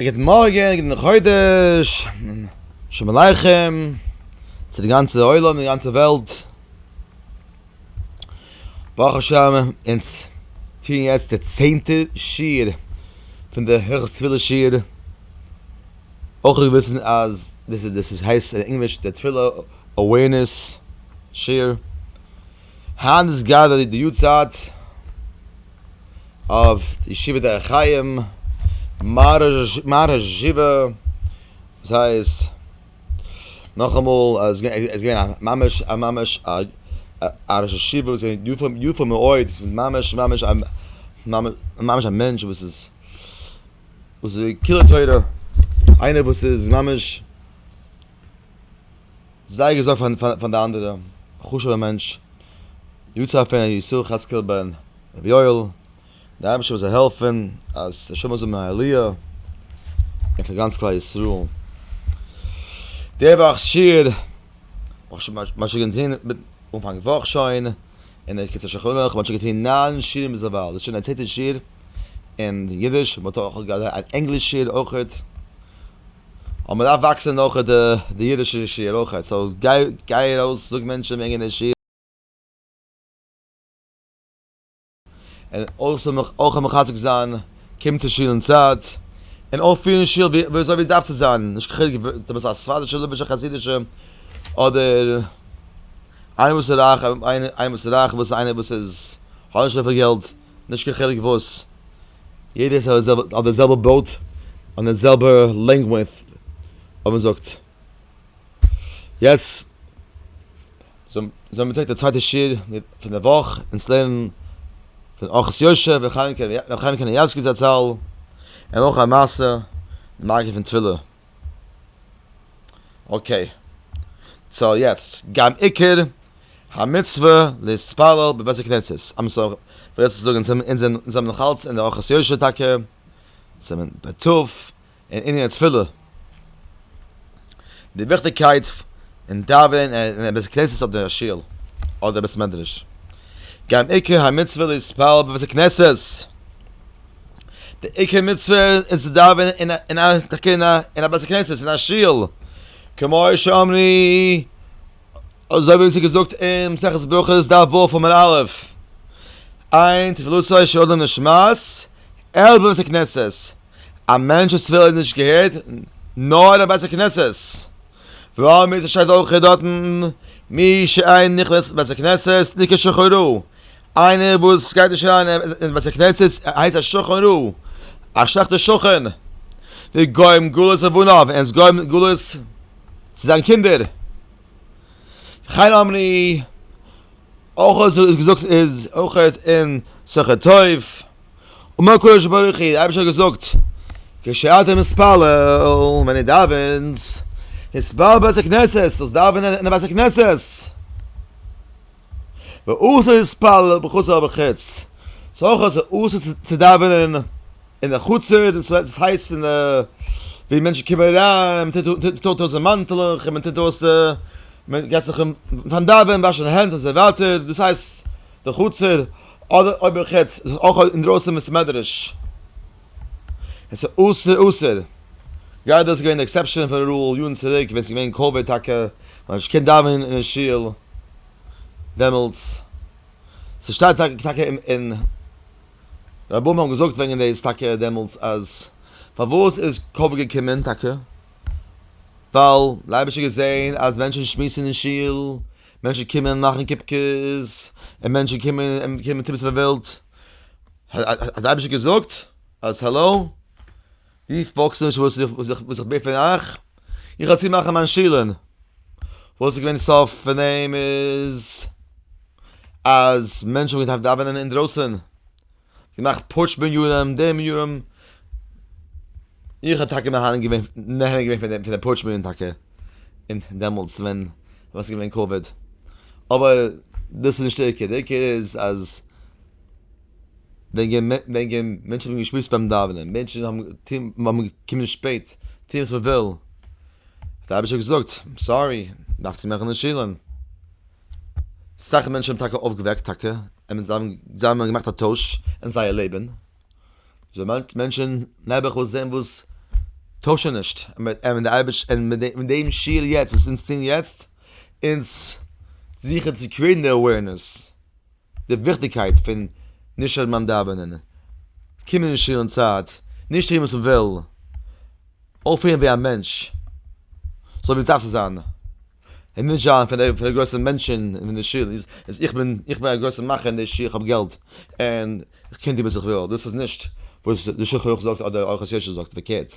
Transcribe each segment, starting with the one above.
גוטן מארגן, גוטן חודש, שלום עליכם, צו די גאנצע עולם, די גאנצע וועלט. ברוך השם, אונז טוען יעצט די צענטע שיעור פון די הלכות תפילה שיעור. אויך זאל איר וויסן אז דאס איז, דאס הייסט אין ענגליש די תפילה אווערנעס שיעור. היינט איז גראדע די יארצייט. אויף ישיבה דרך חיים, מהרש ג, וואס הייסט, נאכאמאל, עס איז געווען א ממש א ממש א ראש ישיבה וואס איז געווען יפה מאוד, ממש ממש ממש א מענטש וואס איז וואס איז קילע תורה, איינער וואס איז ממש. זייער געזארגט פאר די אנדערע חשובע מענטש יצא פון ר' ישראל חאצקעל בן ר' יואל, די אייבערשטער זאל העלפן אז די נשמות זאלן האבן א עליה, און פאר גאנץ כלל ישראל, די וואך שיעור וואס מען האט שוין געטון מיט אנפאנג וואך שוין, און דער קיצור שולחן ערוך, מען האט שוין געטון ניין שיעורים ביז דערווייל, דאס איז שוין דער צענטער שיעור אין אידיש, מען האט אויך געהאט אן ענגליש שיעור אויכעט. אבער מען דארף וואקסען אויך די אידישע שיעור אויכעט, סאו גיי גיי ארויס זאג מענטשען וועגען די שיעור, און אויך אויך מחזק זיין, קום צו שיעור אין צייט, און אויך פירען שיעור ווי אזוי ווי עס דארף צו זיין, נישט קיין חילוק אויב דו ביסט א ספרדישע ליבערשע חסידישע, אדער איינער וואס איז רייך איינער וואס איז רייך וואס איינער וואס איז האט נישט אזויפיל געלט, נישט קיין חילוק וואס. יעדער איז אויף די זעלבע בויט און די זעלבע לענגווידט אויב מען זאגט יעצט זאל מען טרעפן די צווייטע שיעור פון די וואך און עס לערנען פון ארחות יושע ר' חיים קנייבסקי זצל און אויך א מעשה די מארגן פון תפילה. אקעי, סאו יעצט גם עיקר המצוה להתפלל בבית הכנסת, סאו כ'וועל עס זאגן אונז האבן נאך אלץ אין די אורחות יושר טאקע סימן פ ט אין ענין התפילה די וויכטיגקייט פון דאווענען אין א בית כנסת אדער א שול אדער בית מדרש, גם עיקר המצוה להתפלל בבית הכנסת. די עיקר מצוה איז צו דאווענען אין א אין א תקין א אין א בית הכנסת אין א שול, כמו שאמרי אזוי ווי ס'איז געזאגט אין מסכת ברכות דף ו' עמוד א', איין תפילתו של אדם נשמעת אלא בבית הכנסת, א מענטש'ס תפילה איז נישט געהערט נאר אין א בית הכנסת, והאמת שטייט אויך דארטן מי שאין נכנס בית הכנסת נקרא שחורו, איינער וואס גייט נישט אריין אין בית הכנסת איז הייסט א שכן רע, א שלעכטער שכן, די גוים גלות אויף און אויף, און עס גוים גלות צו זיין קינדער, וכן אמרי, אויך אזוי איז געזאגט איז אויך אין שכר טוב, אמר הקדוש ברוך הוא, די אייבערשטער האט געזאגט, כשאתה מתפלל, ווען דו דאווענסט, התפלל בבית הכנסת, זאלסט דאווענען אין א בית הכנסת. ואסור להתפלל בחצר בחוץ, ס'איז אויך אסור צו דאווענען אין די חצר, דאס וועט הייסן ווי מענטשן קומען אריין, מען טוט אויס די מאנטלעך און מען טוט אויס די, מען גייט זיך פארן דאווענען וואשן די הענט און אזוי ווייטער, דאס הייסט די חצר, אדער אויב בחוץ, אויך אינדרויסן אין בית מדרש. עס איז אסור אסור. גראדע איז געווען די עקסעפשאן פון רול יארן צוריק ווען עס איז געווען קאוויד טאקע האט מען נישט געקענט דאווענען אין שול דעמאלטס. ס'שטייט טאקע טאקע אין רבם האבן געזאגט וועגן דאס טאקע דעמאלטס אז פארוואס איז קאוויד געקומען טאקע ווייל די אייבערשטער האט געזען אז מענטשן שמועסן אין שול, מענטשן קומען מאכן קופקעס, און מענטשן קומען און קומען טון וואס מ'ווילט. האט די אייבישטער געזאגט אז האלאו די פאלגסט נישט וואס איך בעט פון אייך, איך וועל צומאכן מיין שילען, וואס איז געווען סוף פון דעם איז אז מענטשן האבן געדארפט דאווענען אינדרויסן, געמאכט פוטש מנין די מנין, איך האב טאקע נהנה געווען פון דעם פוטש מנין טאקע און דעמאלטס ווען עס איז געווען קאוויד, אבער דאס איז נישט די עיקר, די עיקר איז אז. וועגן מענטשן האבן געשמועסט ביים דאווענען, מענטשן האבן געקומען שפעט, טוהן וואס מ'וויל, האט דער אייבישטער געזאגט, סארי, מ'דארף צו מאכן די שילן. אסאך מענטשן האבן טאקע אויפגעוועקט, טאקע, אמת, זיי האבן געמאכט א טויש אין זייער לעבן, מענטשן נעבעך וואס זעהן וואס טוישן נישט, און די אייביש און מיט דעם שיל יעצט וואס אונז טוהן יעצט, אונז זוכן צו קריעיטן די אווערנעס. די וויכטיגקייט פון נישט אויב מיין דאווענען, קומען אין שול אין צייט, נישט טון וואס מ'וויל, אויפפירן ווי א מענטש, אזוי ווי סדארף צו זיין, און נישט זיין פון די גרויסע מענטשען אין די שול, אז איך בין איך בין א גרויסע מאכער אין די שול, איך האב געלט, און איך קען טון וואס איך וויל, דאס איז נישט וואס די שולחן ערוך זאגט אדער אוהח יושר זאגט, פארקערט.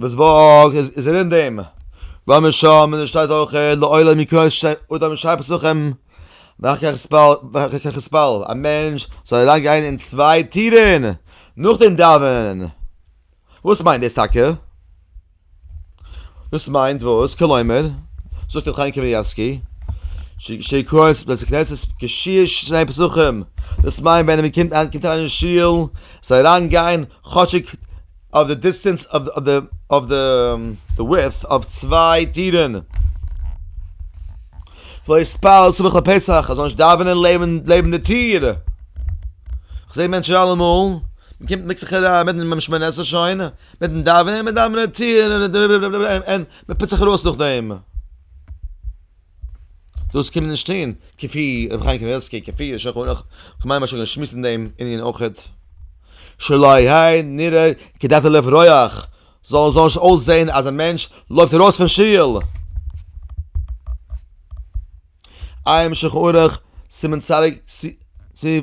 וואס וואך איז איז ער אין דעם? וואו מיר שומען און עס שטייט אויך לעולם יקרא את השם אט האבן שרייבט עס אויך ואחר כך יספל ואחר כך יספל א מענטש זאל אריין גיין אין צוויי טירן נאך דעם דאווענען וואס מיינט דאס טאקע? דאס מיינט וואס? כלומר זאגט ר' חיים קנייבסקי שיקרא את בית הכנסת כשיש שני פסחים דאס מיינט ווען מען קומט אריין אין שול זאל אריין גיין כאטשיג אויף די דיסטענס אויף די אויף די ווידט אויף צוויי טירן. וואו איז פאר סמוך לפסח אז זאל נישט דאווענען לעבן לעבן די טיר. כ'זעה מענטשן אלעמאל, מ'קומט מיקט זיך אריין מיטן מיטן שמונה עשרה שוין, מיטן דאווענען, מ'דאווענען די טיר און מ'טוט זיך ארויס נאכדעם. דאס קומט נישט אהן, כפי ר' חיים קנייבסקי, כפי יישר כוח, כ'מיין מ'האט שוין געשמועסט אין דעם ענין אויכעט, שלא יהא נראה כדעתו לפי רוח, זאל זאל נישט אויסזעהן אז א מענטש לויפט ארויס פון שול. עיין שולחן ערוך, סימן צדיק, סי',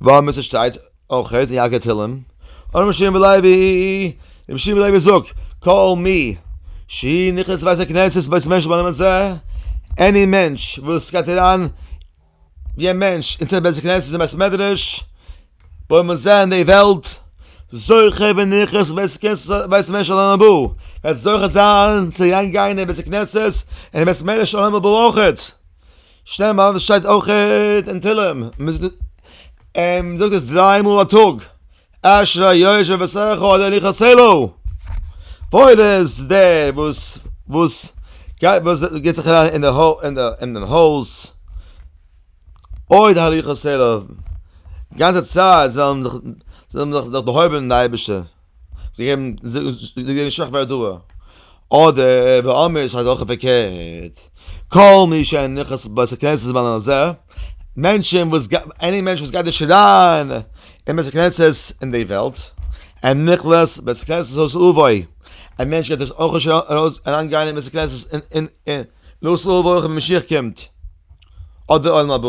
וואו מיר ס'שטייט אויך אין יעקב תהילים, און רבי שמעון בעלעבי, רבי שמעון בעלעבי זאגט, כל מי שהיא נכנסת בית הכנסת בית משה בנאמר זה, עני מענטש וואס גייט אריין ווי א מענטש אין צענטער בית הכנסת און בית מדרש, בנאמר זה אין די וועלט, זוכה ונכנס בית משה לעולם הבא, וועט זוכה זיין צו אריין גיין אין בית הכנסת און בית מדרש עולם הבא אויכעט. שטעל מיר אויף עס שטייט אויכעט אין תהלים מען זאגט עס דריי מאל א טאג אשרי יושבי ביתך אדוני יחסלו וואויל איז דער וואס וואס גייט וואס געט זיך אריין אין די אין דעם הויז אוי אדוני יחסלו גאנצע צייט זאל מען זיך זאל מען זיך דערהויבן אין די אייבישטער. זיי געבן זיי געבן שוואכע הודעה, אדער באמער איז אזעלכע פארקערט, כל מי שאין נכס בית הכנסת זמן על זה, מענטשען וואס עני מענטש וואס גייט נישט אריין אין בית הכנסת אין די וועלט, אין נכלעס בית הכנסת זאל עס אווי, א מענטש גייט עס אויך נישט ארויס אריין גיין אין בית הכנסת אין אין אין, לאז אויך ווען משיח קומט, אדער עולם הבא,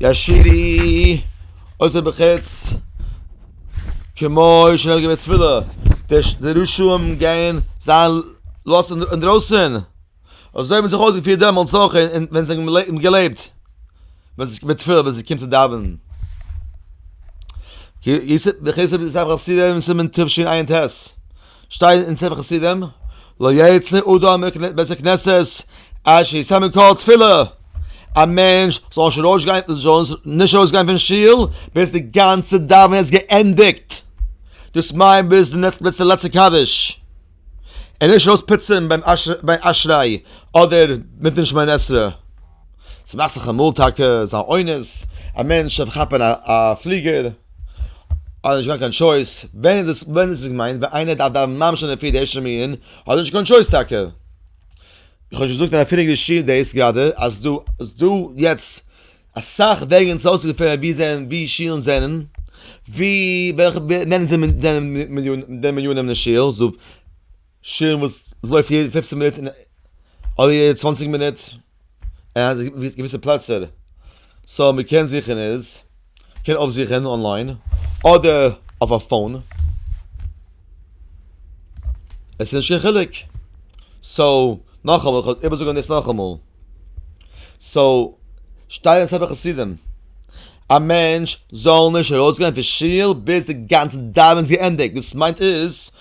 ישירי, אויסער בחוץ, כמו שנהוג בבית תפילה, די רשעים גייען זיין לאסט אינדרויסן, אזוי האבן זיי זיך אויסגעפירט דעמאלטס אויך ווען זיי האבן געלעבט, ווען עס קומט תפילה ווען עס קומט צו דאווענען. סימן תשע ט שטייט אין ספר חסידים, לא יצא אדם מבית הכנסת עד שיסיים מן כל תפילה, א מענטש זאל נישט ארויס גיין, זאל נישט ארויס גיין פון שול ביז די גאנצע דאווענען איז געענדיגט, דאס מיינט ביז די לעצטע קדיש, און נישט ארויס פוצען ביים אשרי אדער מיטן שמונה עשרה. ס'מאכט זיך אמאל טאקע זיין אונס א מענטש דארף כאפן א פליגער, האט נישט געהאט קיין טשויס, ווען איז עס ווען איז עס געמיינט ווען איינער דארף דאווענען ממש אין די פיר די ערשטע מנין האט ער נישט קיין טשויס טאקע. איך האב שוין געזאגט אין א פריערדיגע שיעור דאס גראדע אז דא אז דא יעצט אסאך וועגן צו אויסגעפינען ווי זענען ווי שיעלן זענען, ווי וועלכע ווען זענען מיליאן די מיליאן אין די שיעל. שירן וואס לויפט יעדע פופצן מינוט אדער יעדע צוואנציג מינוט אין א געוויסע פלעצער, סאו מען קען זוכן איז מען קען אויפזוכן אנליין אדער אויף א פאון, עס איז נישט קיין חילוק, סאו נאכאמאל איך וועל איבערזאגן דאס נאכאמאל, סאו שטייען אסאך פון חסידים א מענטש זאל נישט ארויסגיין פון שול ביז די גאנצע דאווענען איז געענדיגט, דאס מיינט איז.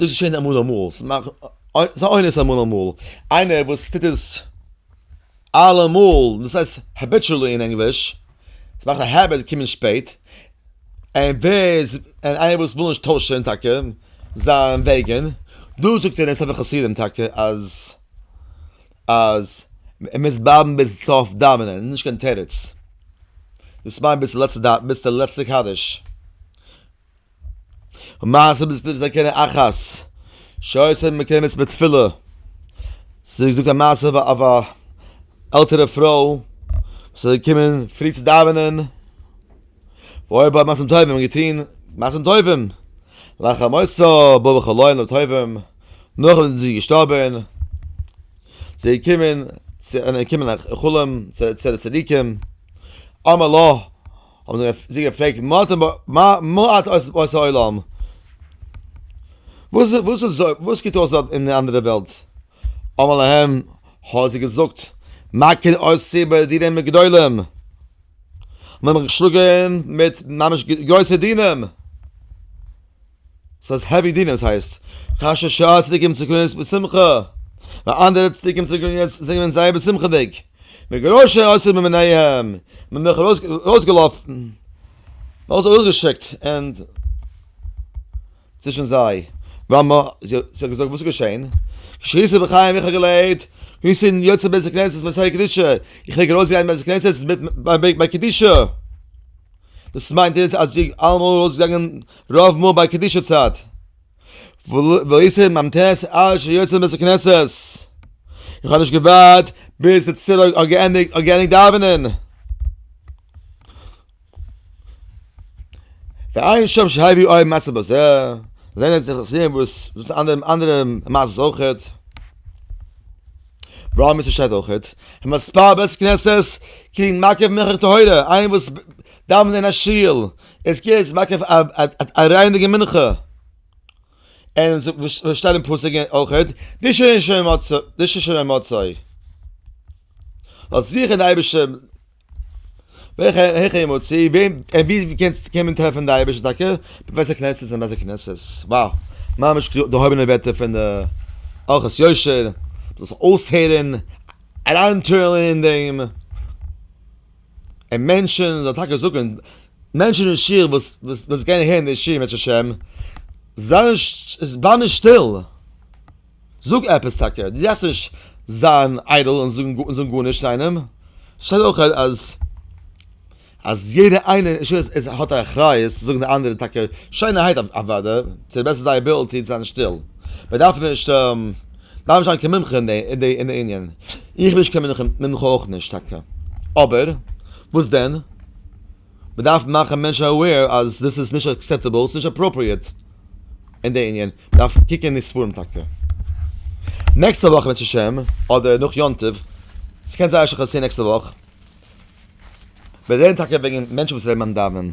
דאס איז שוין אמאל אמאל, ס'איז א אונס אמאל אמאל, איינער וואס טוט עס אלעמאל, דאס הייסט העביטשעלי אין ענגליש, עס מאכט א העביט צו קומען שפעט, און ווער, און איינער וואס וויל נישט טוישען טאקע זיין וועגען, דא זאגט ער אין ספר חסידים טאקע אז אז ער מוז בלייבן ביז סוף דאווענען, איז נישט קיין תירוץ, דאס מיינט ביז די לעצטע דאווענען, ביז די לעצטע קדיש. ומעשה בסניף זקן אחת שעושה מקיימת בתפילה זי זאגט א מעשה אויף א אויף א עלטערע פרוי זי איז געקומען פרי צו דאווענען אוי בה מעשים טובים געטוהן מעשים טובים לאחר מותה בא בכל יום טובים נאך וואס זי איז געשטארבען זי איז געקומען צו אן אנקומען א חלום צו די צדיקים אמר לה האבן זיי געפרעגט מה אתם מה את עושה העולם? וואס וואס איז וואס קוקט אויס דארט אין די אנדערע וועלט? אמר להם האט זיי געזאגט מה כן עושה ביי דינים הגדולים? מ'האט מיך געשלאגען מיט ממש גרויסע דינים. סאיז העווי דינער סהייסט ח ש שעה צדיקים צו קרן יעצט בשמחה ווייל אנדערע צדיקים צו קרן יעצט זענען געווען זייער בשמחה'דיג מגרשי אסור ממיניהם מען מיך ארויסגעלאפן אויס אויסגעשיקט ענד צווישן זיי ווען מע זי האט געזאגט וואס איז געשעהן שריסע בחיים איך האב געלעבט ווי ס'איז יוצא בעסער קנעסעס מיט סיי קדושה איך ווער גערויס געגאנגען בעסער קנעסעס מיט ביי קדושה דאס מיינט איז אז זי אלעמאל ארויסגעגאנגען רוב מאל ביי קדישא צייט. ואיסור מ ט עד שיוצא מבית הכנסת. איך האב נישט געווארט ביז די צל האט געענדיגט דאווענען. ועיין שם שהיה ווי אויבן מעשה בזה. זענען אונז די חסידים וואס זאגט אנדערע מעשות אויכעט. רוב מעשה שטייט אויכעט. מספר בית הכנסת קרית מקיף מנחה טהורה. איינער וואס דאווענט אין א שול. עס קען יעצט מאכן א רייניגן מנחה און וואס שטייט אין פסוק אויך די שושן מצה די שושן און מצה האט זיכער די אייבישטער וועלכע העכער יעמאל צו וועם און ווי ווי קענסט קען מען טרעפן די אייבישטער טאקע בבית הכנסת אין בית הכנסת וואו ממש געהויבענע ווערטער פון די ארחות יושר דאס אויסהערן אריינטוהן אין דעם און מענטשן מען זאל טאקע זאגן מענטשן אין שול וואס וואס גייען אהער אין די שיעור בעזהשי ת זיי זיי נישט שטיל זאג עפעס טאקע דו דארפסט נישט זיין איידל און זאגן גארנישט צו איינעם שטייט אויך אז אז יעדע איינער אין שול איז האט א אחריות צו זאגן די אנדערע טאקע שיינערהייט אוודאי צו די בעסט פון זייער עבילעטי צו זיין שטיל מען דארף נישט דארף נישט זיין קיין מומחה אין די ענין. איך בין נישט קיין מומחה אויך נישט טאקע. אבער, וואס דען? מ'דארף מאכן מענטשן אוועיר אז דאס איז נישט אקסעפטעבל, ס'איז נישט עפראפריעט אין די ענין. מ'דארף קוקן אין די ספרים טאקע. נעקסטע וואך בעז השם, אדער נאך יום טוב, ס'קען זייער שוין פאסירן נעקסטע וואך, וועט רעדן טאקע וועגן מענטשן וואס רעדן ביים דאווענען.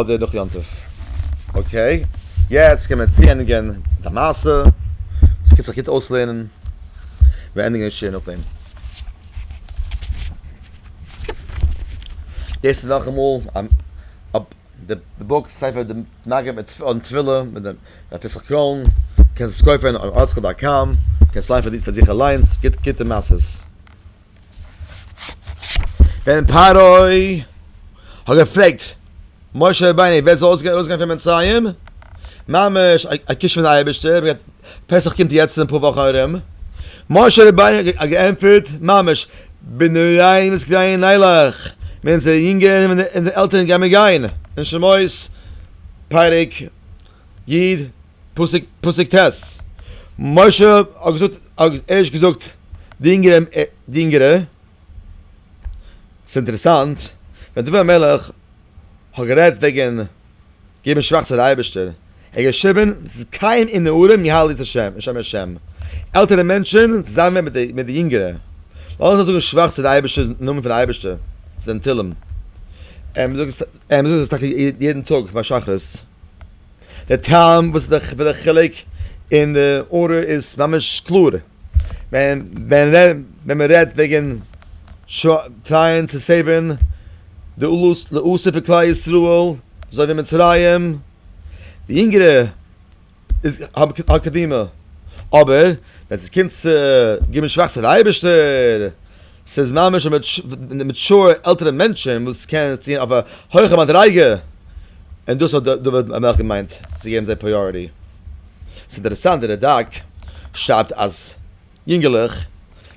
אדער נאך יום טוב. אקעי, יעצט קען מען צוענדיגען מיט א מעשה, עס קען זיך גוט אויסלערנען, מיר ענדיגען די שיעור נאכדעם. דאס איז נאכאמאל די בוק ספר די מגן מיט אן תפילה מיט די ר' פסח קרוין, קענסט עס קויפען אויף ארטסקרול דאט קאם, קענסט ליינען פאר זיך אליינס, גוטע מעשות. ווען פרעה האט געפרעגט משה רבינו ווער זאל אויסגיין אויסגיין פון מצרים, ממש א קיש פון די אייבערשטער, פסח קומט יעצט אין אפאר וואכן ארום, משה רבינו האט געענטפערט ממש בנערים זקנים נלך, ווען אונזערע יונגערן און אונזערע עלטערן גייען מיר גיין, אין שמות פרק יד. פסוק פסוק ט' משה האט געזאגט ערשט געזאגט די אינגערע די אינגערע ס'איז אינטערעסאנט ווען דוד המלך האט גערעדט וועגן געבן שבח צו די אייבערשטער ער האט געשריבן זקן ונערים יהללו את השם את שם השם עלטערע מענטשען צוזאמען מיט די מיט די יונגערע לאזן זיי זאגן שבח צו די אייבערשטער'ס נאמען פון די אייבערשטער ס'איז אין תהלים און מ'זאגט עס טאקע יעדן טאג ביי שחרית. די טעם וואס איז פון די חילוק אין די ארדער איז ממש קלאר, ווען ווען מען רעדט וועגן טרייען צו סעיווען די עלות לעושר פון כלל ישראל אזוי ווי מצרים, די יונגערע איז האט קדימה, אבער ווען ס'קומט צו גיבן שבח צו די אייבערשטער. ס'איז ממש די מעטשור עלטערע מענטשען וואס קען עס טוהן אויף א הויכע מדריגה, און דאס האט דוד המלך געמיינט צו געבן זיי פריאריטי. ס'איז אינטערעסאנט די רדק שרייבט אז יונגעלעך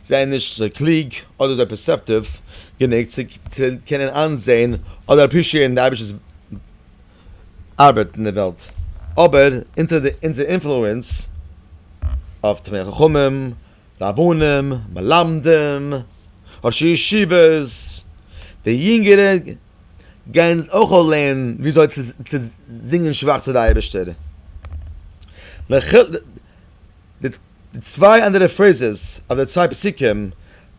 זענען נישט אזוי קלוג אדער אזוי פערסעפטיוו גענוג צו קענען איינזעהן אדער אפרישיעטן די אייבישטער'ס ארבעט אין די וועלט, אבער אונטער אונזער אינפלוענס אויף תלמידי חכמים רבנים, מלמדים, ראשי ישיבות, די יונגערע גייען אויך אויך לערנען וויאזוי צו זינגען שבח צו די אייבערשטער. די צוויי אנדערע פרעיזעס אדער צוויי פסוקים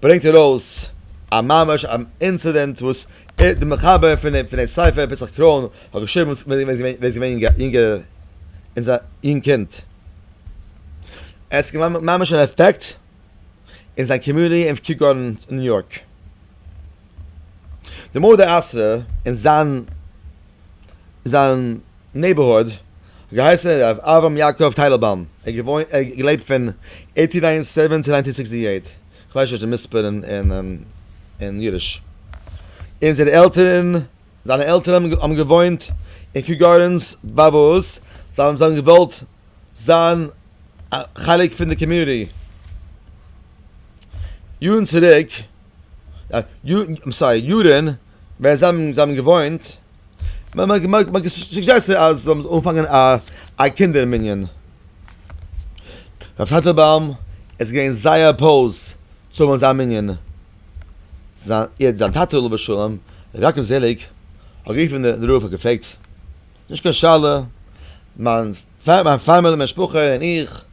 ברענגט ער אויס א ממש א אינצידענט וואס ער די מחבר פון פון די ספר פסח קראון האט געשריבן ווען ער איז געווען יונגער אינז א יונג קינד. עס איז געווארן ממש אן אפעקט אין זיין קאמיוניטי אין קיו גארדענס אין ניו יארק. די מדה אסרה אין זיין זיין נעיבערהוד האט געהייסן ר' אברהם יעקב טייטלבאום, ער האט געוואוינט ער האט געלעבט פון עיטין נײַנטי סעווען צו נײַנטין סיקסטי עיט, כ'ווייס נישט די מספר אין אידיש, און זייערע עלטערן זיינע עלטערן האבן געוואוינט אין קיו גארדענס בעפאר זיי האבן געוואלט. זיין א חלק פון די קאמיוניטי, יארן צוריק, סארי יארן ווען זיי האבן געוואוינט, מען האט סוג'עסטעד אז זיי זאלן אנפאנגען א קינדער מנין, רבי טייטלבוים איז געווען זייער אפאוז צו האבן אזא מנין, זיין טאטע עליו השלום ר' יעקב זעליג האט גערופן די רב און געפרעגט, נישט קיין שאלה, מיין פאמיליע, מיין משפחה און איך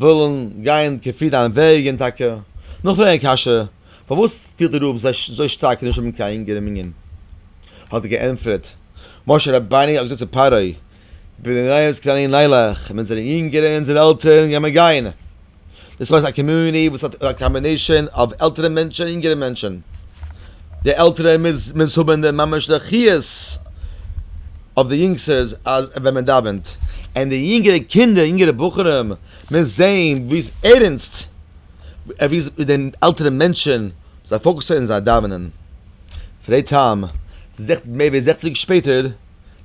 ווילן גיין כפי דיין וועג און טאקע נאכפרעגן א קשיא, פארוואס פילט די רב זיך אזוי שטארק נישט האבן קיין אינגער אין מנין? האט ער געענטפערט, משה רבינו האט געזאגט צו פרעה, בני נח קטני נלך, אונזערע אינגערע און אונזערע עלטערן גייען מיר גיין, דאס מיינט א קאמיוניטי וואס האט א קאמבינעישאן אוו עלטערע מענטשן און יונגערע מענטשן, די עלטערע מוז מוז האבן די ממש די חיות אויף די יונגסטערס אז ווען מען דאווענט, און די יונגערע קינדער יונגערע בחורים מוז זעהן ווי עס ערענסט ווי עס די עלטערע מענטשן זיי פאוקעסען אין זייער דאווענען, פאר די טעם זעכ מער ווי זעכציג שפעטער.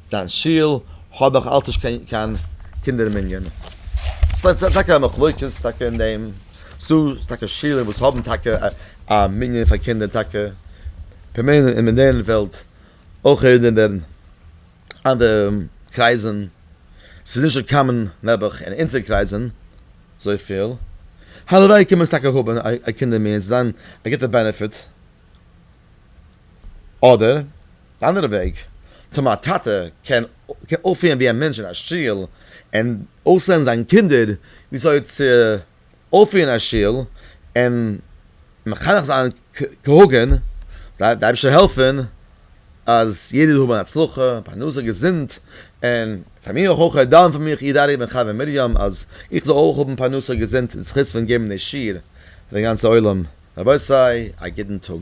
זיין שול האב איך אלץ נישט קיין קינדער אין מנין. ס'איז טאקע א מחלוקת טאקע אין דעם. ס'דא טאקע שולען וואס האבן טאקע א מנין פאר קינדער טאקע. כ'מיין אין מודערן וועלט אויך אין די אנדערע קרייזן. ס'איז נישט אזוי קאמאן נעבעך אין אונזערע קרייזן אזויפיל. הלוואי קען מען עס טאקע האבן א קינדער מנין. ס'זאל זיין א גוטע בענעפיט. אדער די אנדערע וועג, טאמער א טאטע קען אויפפירן ווי א מענטש אין א שול און אויסלערנען זיין קינדער וויאזוי צו אויפפירן אין א שול און מחנך זיין כהוגן, זיי די אייבערשטער העלפן אז יעדער זאל האבן הצלחה, פרנסה, געזונט, און. פאר מיר אויך אויך דאן פאר מיך איד ארי' בן חוה מרים אז איך זאל אויך האבן פרנסה געזונט אין זכות פון געבן די שיעור פאר די גאנצע עולם רבותי א גוטן טאג.